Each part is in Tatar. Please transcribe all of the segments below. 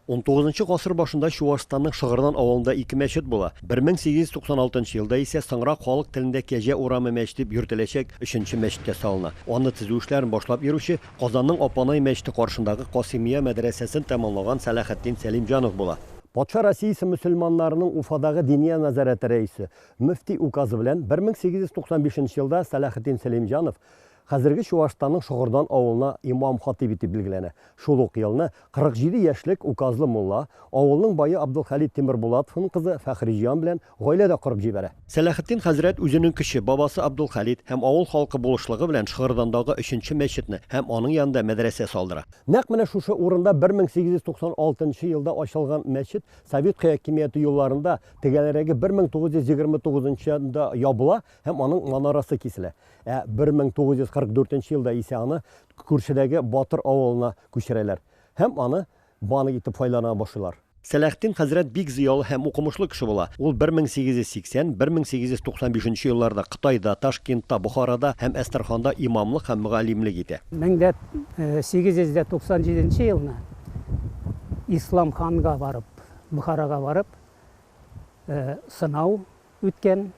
Унтугызынчы гасыр башында Чуашстанның Шыгырдан авылында ике мәчет була. 1896 елда исә соңрак халык телендә Кәҗә урамы мәче дип йөртеләчәк өченче мәчет тә салына. Аны төзү эшләрен башлап йөрүче, Казанның Апанай мәчете каршындагы Касыймия мәдрәсәсен тәмамлаган Сәлахетдин Сәлимҗанов була. Патша Россиясе мөселманнарының Уфадагы Диния нәзарәте рәисе, мөфти указы белән 1895 елда Сәлахетдин Сәлимҗанов Хәзерге Чуашстанның Шогырдан авылына имам-хатыйб итеп билгеләнә. Шул ук елны 47 яшьлек указлы мулла, авылның бае Абдулхәлит Тимербулатовның кызы Фәхриҗан белән гаилә дә корып җибәрә. Сәләхетдин хәзрәт үзенең кече бабасы Абдулхәлит һәм авыл халкы булышлыгы белән Шыгырдандагы өченче мәчетне һәм аның янында мәдрәсә салдыра. Нәкъ менә шушы урында 1896 нчы елда ачылган мәчет совет хәякимияте елларында, тегәлрәге 1929 нчы елда ябыла һәм аның манарасы киселә. Ә 1944 елда исә аны күршедәге Батыр авылына күчерәләр һәм аны банк итеп файдалана башлыйлар. Сәләхтин хәзрәт бик зыялы һәм укымышлы кеше була. Ул 1880-1895 елларда Кытайда, Ташкентта, Бохарада һәм Әстерханда имамлык һәм мөгаллимлек итә. 1897 елны Ислам ханга барып, Бохарага барып, сынау үткән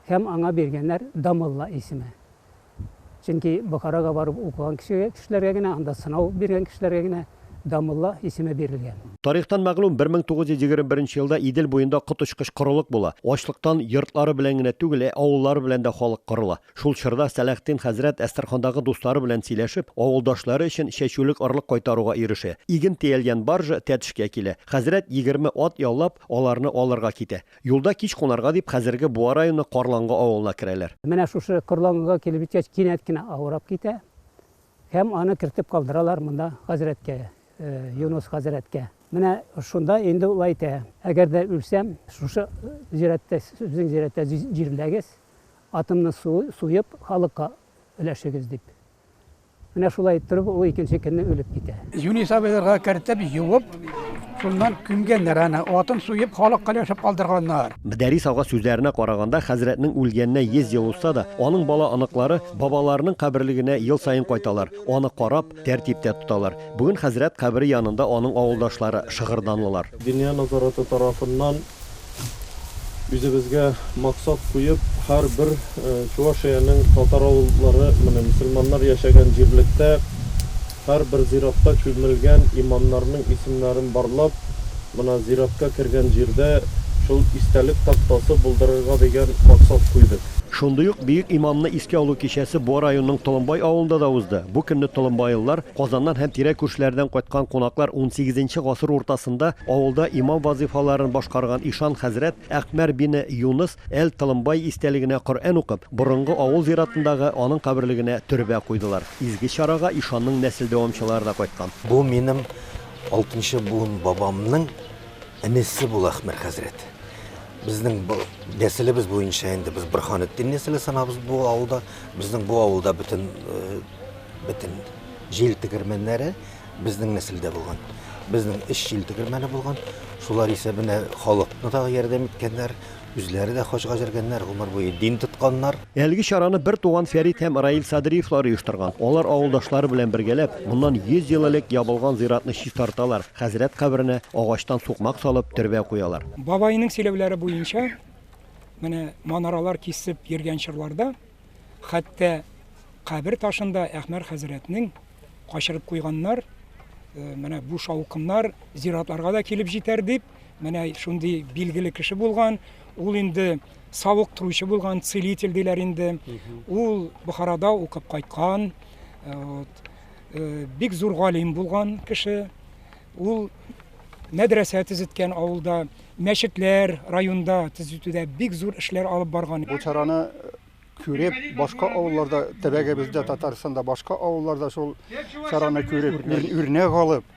һәм аңа биргәннәр Дамулла исеме. Чөнки Бохарага барып укыган кешегә, кешеләргә генә, анда сынау биргән кешеләргә генә Дамулла исеме бирелгән. Тарихтан мәгълүм, 1921 елда Идел буенда коточкыч корылык була. Ачлыктан йортлары белән генә түгел, ә авыллары белән дә халык кырыла. Шул чорда Сәләхтин хәзрәт Әстерхандагы дуслары белән сөйләшеп, авылдашлары өчен чәчүлек орлык кайтаруга ирешә. Иген тиялгән баржа Тәтешкә килә. Хәзрәт егерме ат яллап, аларны алырга китә. Юлда кич кунарга дип хәзерге Буа районы Карлангы авылына керәләр. Менә шушы Карлангыга килеп җиткәч, кинәт кенә авырап китә һәм аны кертеп калдыралар монда хәзрәткә, Юныс хәзрәткә. Менә шунда инде ул әйтә, Әгәр дә үлсәм, шушы зираттә, сезнең зираттә җирләгез, атымны суеп, халыкка өләшегез, дип. Менә шулай иттереп ул икенче көнне үлеп китә. Юнис абыйларга кертеп, юып, шуннан күмгәннәр аны. Атын суеп, халыкка өләшеп калдырганнар. Мөдәррис ага сүзләренә караганда, хәзрәтнең үлгәненә 100 ел узса да, аның бала-оныклары бабаларының каберлегенә ел саен кайталар, аны карап, тәртиптә тоталар. Бүген хәзрәт кабере янында аның авылдашлары, шыгырданлылар. Диния назараты тарафыннан үзебезгә максат куеп, һәрбер Чувашиянең татар авыллары, менә мөселманнар яшәгән җирлектә һәрбер зиратта чүлмелгән имамнарның исемнәрен барлап, менә зиратка кергән җирдә шул истәлек тактасы булдырырга дигән максат куйдык. Шундый ук бөек имамны искә алу кичәсе Буа районының Толымбай авылында да узды. Бу көнне толымбайлылар, Казаннан һәм тирә күршеләрдән кайткан кунаклар унсигезенче гасыр уртасында авылда имам вазыйфаларын башкарган ишан хәзрәт Әкъмәр бине Юныс әл-Толымбай истәлегенә Коръән укып, борынгы авыл зиратындагы аның каберлегенә төрбә куйдылар. Изге чарага ишанның нәсел дәвамчылары да кайткан. Бу минем алтынчы буын бабамның энесе була Әкъмәр хәзрәт. Безнең нәселебез буенча инде без Борханетдин нәселе санабыз бу авылда. Безнең бу авылда бөтен бөтен җил тегермәннәре безнең нәселдә булган. Безнең өч җил тегермәне булган. Шулар исәбенә халыкны да ярдәм иткәннәр, үзләре дә хаҗга җөргәннәр, гомер буе дин тотканнар. Әлеге чараны бертуган Фәрит һәм Раил Садриевлар оештырган. Алар авылдашлары белән бергәләп, моннан 100 ел элек ябылган зиратны чистарталар, хәзрәт каберенә агачтан сукмак салып, төрбә куялар. Бабайның сөйләүләре буенча, менә манаралар кисеп йөргән чорларда, хәтта кабер ташын да Әхмәр хәзрәтнең качырып куйганнар, менә бу шаукымнар зиратларга да килеп җитәр дип, Менә шундый билгеле кеше булган, ул инде савыктыручы булган, целитель диләр инде. Ул Бухарада укып кайткан, э, вот, э, бик зур галим булган кеше. Ул мәдрәсә төзеткән авылда, мәчетләр районда төзетүдә бик зур эшләр алып барган. Бу чараны э, күреп, башка авылларда, төбәгебездә, Татарстанда башка авылларда шул чараны күреп, үрнәк алып,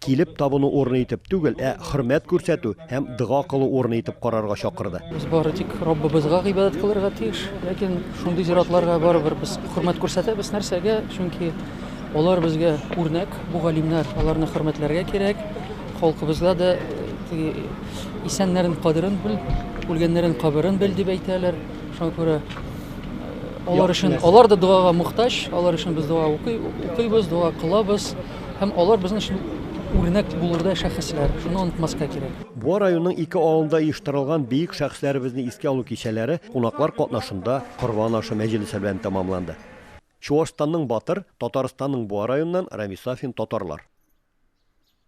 Килеп табыну урыны итеп түгел, ә хөрмәт күрсәтү һәм дога кылу урыны итеп карарга чакырды. Без бары тик Раббыбызга гыйбадәт кылырга тиеш, ләкин шундый зиратларга барыбер без хөрмәт күрсәтәбез. Нәрсәгә? Чөнки алар безгә үрнәк, бу галимнәр, аларны хөрмәтләргә кирәк. Халкыбызда да теге исәннәрен кадерен бел, үлгәннәрен каберен бел дип әйтәләр. Шуңа күрә алар өчен, алар да догага мохтаҗ, алар өчен без дога укый, укыйбыз, дога кылабыз. Һәм алар безнең өчен үрнәк булырдай шәхесләр. Шуны онытмаска кирәк. Буа районының ике авылында оештырылган бөек шәхесләребезне искә алу кичәләре кунаклар катнашында Корбан ашы мәҗлесе белән тәмамланды. Чуашстанның Батыр, Татарстанның Буа районыннан Рамис Сафин, Татарлар.